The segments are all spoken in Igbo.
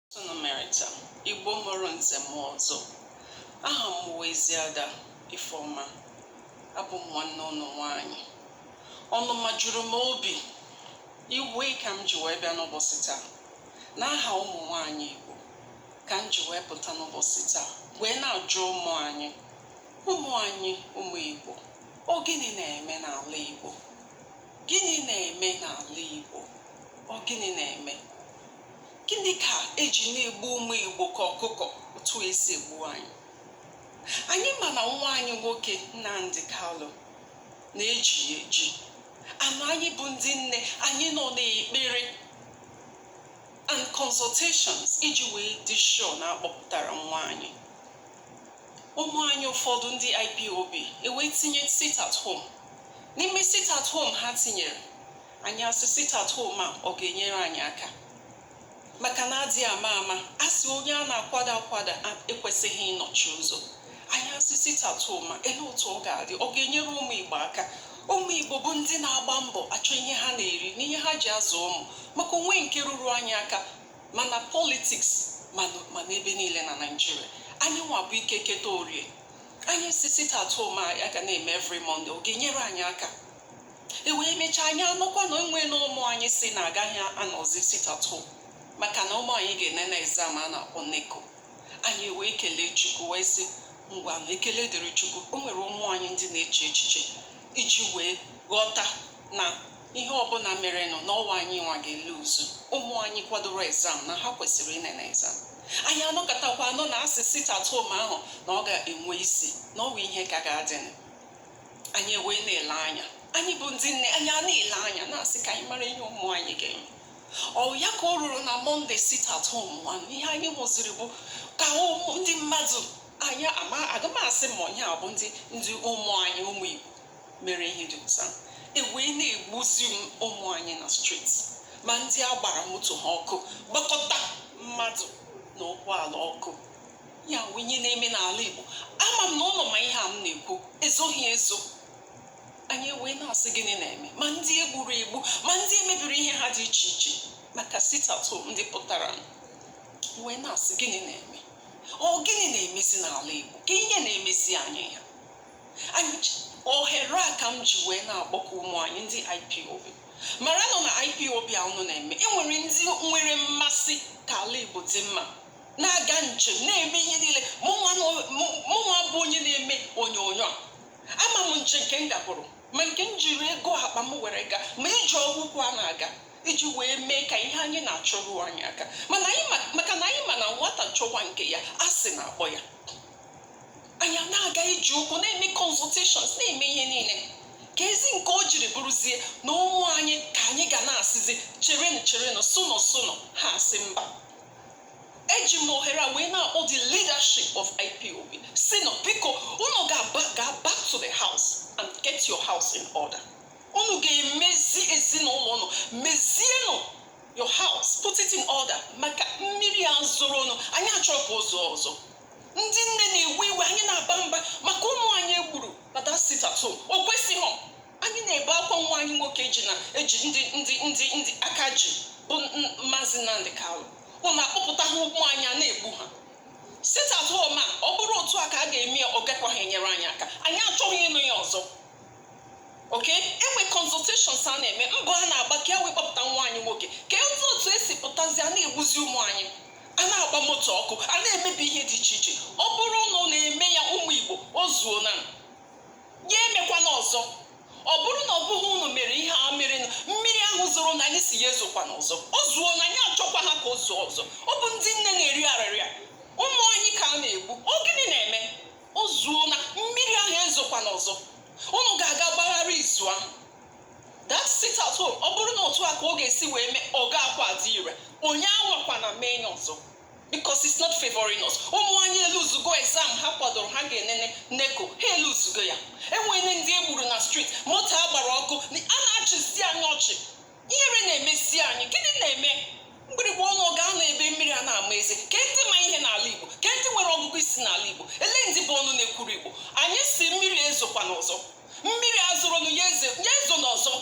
Otu ụnụ mere taa Igbo mụrụ nze mụọ ọzọ aha m wụ Eziada Ifeọma abụ m nwanne ụnụ nwaanyị ọnụma juru m obi iwe ka m ji wee bịa n'ụbọchị taa n'aha ụmụ nwaanyị Igbo ka m ji wee pụta n'ụbọchị taa wee na-ajụ ụmụ anyị ụmụ anyị ụmụ Igbo ọ gịnị na-eme n'ala Igbo gịnị na-eme n'ala Igbo ọ gịnị na-eme Gịnị ka eji na-egbu ụmụ Igbo ka ọkụkọ otu esi egbu anyị? Anyị ma na nwa anyị nwoke Nnamdi Kalụ na eji ya eji. Na anyị bụ ndị nne anyị nọ n'ekpere and consultations iji wee dị sure na akpọpụtara nwa anyị. Ụmụ anyị ụfọdụ ndị IPOB ewee tinye sit at home. N'ime sit at home ha tinyere, anyị asị sit at home a ọ ga-enyere anyị aka maka na adịghị ama ama a sị onye a na-akwada akwada ekwesịghị ịnọchi ụzọ anyị asị sit at home a ele otu ọ ga-adị ọ ga-enyere ụmụ Igbo aka ụmụ Igbo bụ ndị na-agba mbọ achọ ihe ha na-eri na ihe ha ji azụ ụmụ maka o nwe nke ruru anyị aka ma na politiks ma n'ebe niile na Naịjirịa anyị nwa bụ ike keta orie anyị sị sit at home a ga na-eme every Monday ọ ga-enyere anyị aka e wee mechaa anyị anụkwa na onwe na ụmụ anyị sị na agaghị anọzi sit at home maka na ụmụ anyị ga-enene exam a na-akpọ NECO anyị wee kelee chukwu wee sị ngwanụ ekele dịrị chukwu o nwere ụmụ anyị ndị na-eche echiche iji wee ghọta na ihe ọbụla merenụ na ọ wụ anyị nwa ga-eluzu ụmụ anyị kwadoro exam na ha kwesịrị ịnene exam anyị anọkatakwa anụ na asị sit at home ahụ na ọ ga-enwe isi na ọ bụ ihe ka ga-adịnụ anyị ewee na-ele anya anyị bụ ndị nne anyị a na-ele anya na-asị ka anyị mara ihe ụmụ anyị ga-eme ọ ya ka o ruru na Monday sit at home nwanụ ihe anyị hụziri bụ ka ụmụ ndị mmadụ anyị ama aga m asị ma onye a bụ ndị ndị ụmụ anyị ụmụ igbo mere ihe dị otu a ewee na-egbuzi ụmụ anyị na street ma ndị a gbara moto ha ọkụ gbakọta mmadụ na ụgbọala ọkụ ya wụ ihe na-eme n'ala Igbo ama m na ụnụ ma ihe a m na-ekwu ezoghị ezo anyị ewee na-asị gịnị na-eme ma ndị egburu egbu ma ndị emebiri ihe ha dị iche iche maka sit at home ndị pụtara wee na-asị gịnị na-eme ọ gịnị na-emezi n'ala Igbo kee ihe na-emezi anyị ya ohere a ka m ji wee na-akpọku ụmụ anyị ndị IPOB maranụ na IPOB a unu na-eme enwere ndị nwere mmasị ka ala Igbo dị mma na-aga njem na-eme ihe niile mụnwa bụ onye na-eme onyonyo ama m njem nke m gaburu ma nke m jiri ego akpa m were gaa ma ije ụkwụ a na-aga iji wee mee ka ihe anyị na-achọ ruo anyị aka maka na anyị ma na nwata chọwa nke ya asị na-akpọ ya anyị na-aga ije ụkwụ na-eme consultations na-eme ihe niile keezi nke o jiri bụrụzie na ụmụ anyị ka anyị ga na-asịzi cherenụ cherenụ sụnụ sụnụ ha asị mba eji m ohere a wee na-akpọ the leadership of IPOB sị na biko unu ga-aga back to the house and get your house in order unu ga-emezi ezinụlọ unu mezienụ your house put it in order maka mmiri a zoronụ anyị achọrọ ka o zoo ọzọ ndị nne na-ewe iwe anyị na-aba mba maka ụmụ anyị e gburu na that sit at home o kwesịghị anyị na-ebe akwa nwa anyị nwoke ji na eji ndị ndị ndị ndị aka ji bụ maazị Nnamdi Kanu unu akpọpụta ha ụmụ anyị a na-egbu ha sit at home a ọ bụrụ otu a ka a ga-eme ya ọ gakwaghị enyere anyị aka anyị achọghị ịnụ ya ọzọ okay e nwe consultations a na-eme mbọ a na-agba ka e wee kpọpụta nwa anyị nwoke kee otu e si pụtazi a na-egbuzi ụmụ anyị a na-agba moto ọkụ a na-emebi ihe dị iche iche ọ bụrụ unu na-eme ya ụmụ Igbo o zuona ya emekwana ọzọ ọ bụrụ na ọ bụghị unu mere ihe a mere mmiri ahụ zoronụ anyị sị ya ezokwana ọzọ o zuona anyị achọkwaha ka o zoo ọzọ ọ bụ ndị nne na-eri arịrịa ụmụ anyị ka a na-egbu ọ gịnị na-eme o zuona mmiri ahụ ezokwana ọzọ unu ga-aga gbagharịa izu ahụ that sit at home ọ bụrụ na otu a ka ọ ga-esi wee mee ọ gakwaha adị ire onye anwakwana mee ya ọzọ because it's not favoring us ụmụ anyị eluzugo exam ha kwadoro ha ga-enene NECO ha eluzugo ya e nwere ndị e gburu na street moto a gbara ọkụ a na-achịzi anyị ọchị ihere na-emezi anyị gịnị na-eme mgbịrịgba ọnụ gaa na ebe mmiri a na-ama eze kee ndị ma ihe n'ala igbo kee ndị nwere ọgụgụ isi n'ala igbo elee ndị bụ ọnụ na-ekwuru igbo anyị sị mmiri ezokwana ọzọ mmiri a zoronụ ya ezona ọzọ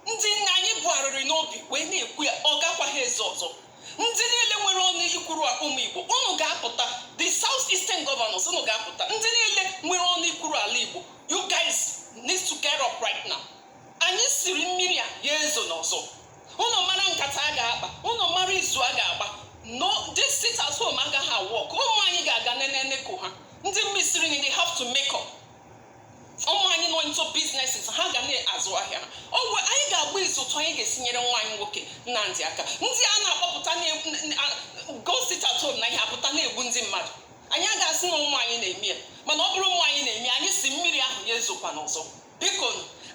ndị nne anyị bu arịrị n'obi wee na-ekwu ya ọ gakwaghị ezo ọzọ ndị niile nwere ọnụ ikwuru ụmụ igbo unu ga-apụta the south eastern governors unu ga-apụta ndị niile nwere ọnụ ikwuru ala igbo you guys need to get up right now anyị sịrị mmiri a ya ezona ọzọ unu mara nkata a ga-akpa unu mara izu a ga-agba na this sit at home agaghị a-work ụmụ anyị ga-aga nene NECO ha ndị missiri ni they have to make up ụmụ anyị nọ into businesses ha ga na-azụ ahịa ha ọ bụ anyị ga-agba izu otu anyị ga-esi nyere nwa anyị nwoke Nnamdi aka ndị a na-akpọpụta go sit at home na ihe apụta na-egbu ndị mmadụ anyị agaghị asị na ụmụ anyị na-eme ya mana ọ bụrụ ụmụ anyị na-eme anyị sị mmiri ahụ ya ezokwana ọzọ biko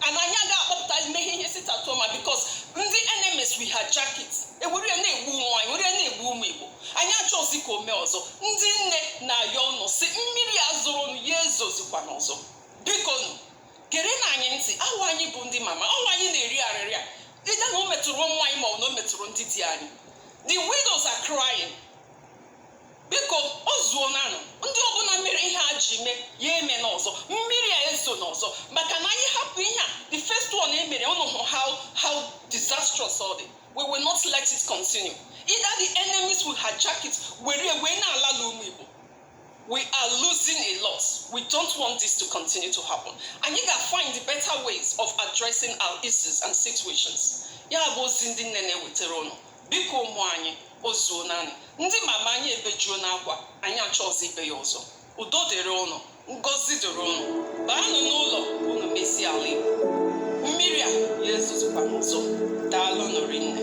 and anyị agaghị akpọpụta imeghe ihe sit at home a because ndị enemies will hijack it e were ya na-egbu ụmụ anyị were ya na-egbu ụmụ Igbo anyị achọzi ka o mee ọzọ ndị nne na-ayọ ụnụ sị mmiri a zoronụ ya ezozikwana ọzọ bikonụ gerenụ anyị ntị ọ wụ anyị bụ ndị mama ọ wụ anyị na-eri arịrị a either na o metụrụ ụmụ anyị ma ọ na o metụrụ ndị di anyị the widows are crying biko o zuonanụ ndị ọbụla mere ihe a ji mee ya emena ọzọ mmiri a ezona ọzọ maka na anyị hapụ ihe a the first one e mere ụnụ hụ how how disastrous ọ dị we will not let it continue either the enemies will hijack it were wee na-ala ụmụ Igbo we are losing a lot. We don't want this to continue to happen. Anyị ga-find the better ways of addressing our issues and situations. Ya bụ ozi ndị nne na-ewetara ụnụ biko ụmụ anyị o zuonanụ ndị mama anyị ebejuona akwa anyị achọzi ibe ya ọzọ udo dịrị ụnụ ngozi dịrị ụnụ baanụ n'ụlọ ka ụnụ mezie ala igbo mmiri a ya ezozikwana ọzọ daalụnụ rinne